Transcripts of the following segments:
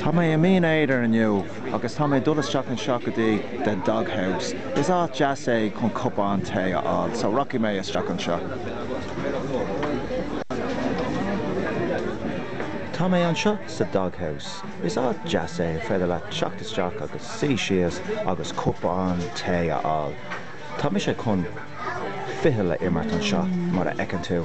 Tá mé i mBinn Éadair inniu agus tá mé ag dul isteach anseo go dtí The Dog House. Is áit deas é chun cupán tae a fháil, so rachaidh mé isteach anseo. Tá mé anseo sa Dog House. Is áit deas é ar féidir leat teacht isteach agus suí síos agus cupán tae a fháil. Tá mise chun fichille a imirt anseo, mar a fheiceann tú.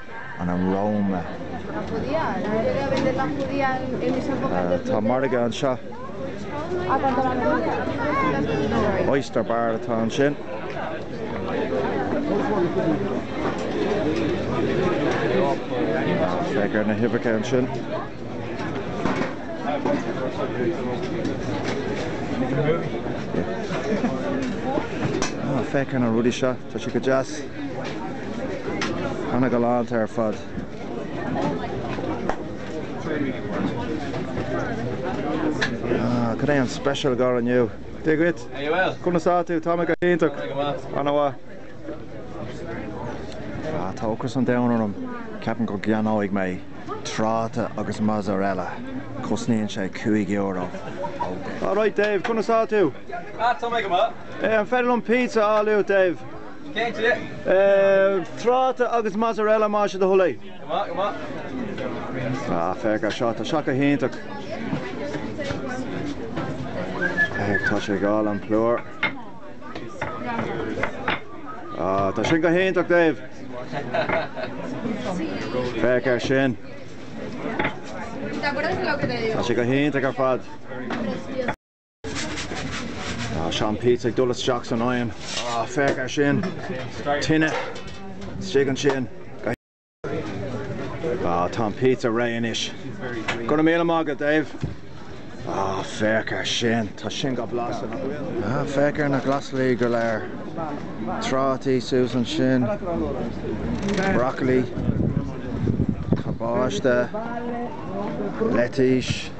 Ann roimhe. Tá margadh anseo. Oyster bar atá ansin. Féach ar na huibheacha ansin. Féach ar na rudaí seo, tá siad go deas. Tá siad go hálainn ar fad. Ah, cad é an speisialtacht inniu? Dia dhuit! Are you well? Conas atá tú? Tá mé go hiontach. Tá mé go maith. An-mhaith. Ah, tá ocras an domhain orm. Ceapaim go gceannóidh mé tráta agus mozzarella. Cosnaíonn sé cúig euro. Alright, Dave, conas atá tú? Ah, tá mé go maith. Eh, an féidir liom pizza a fháil uait, Dave? Tráta agus mozzarella más é do thoil é. Ah, féach ar seo, tá seo go hiontach. Féach, tá sé ag fáil an plúr. Ah, tá sin go hiontach, Dave. Féach ar sin. Tá sé go hiontach ar fad. Ah, seo an píotsa ag dul isteach san oigheann. Ah, féach air sin. Tine. Istigh ansin. Ah, tá an píotsa réidh anois. Go raibh míle maith agat, Dave. Ah, féach air sin. Tá sin go blasta, nach bhfuil? Ah, féach ar na glasraí go léir. Trátaí suas ansin. Broccoli. Cabáiste. Leitís.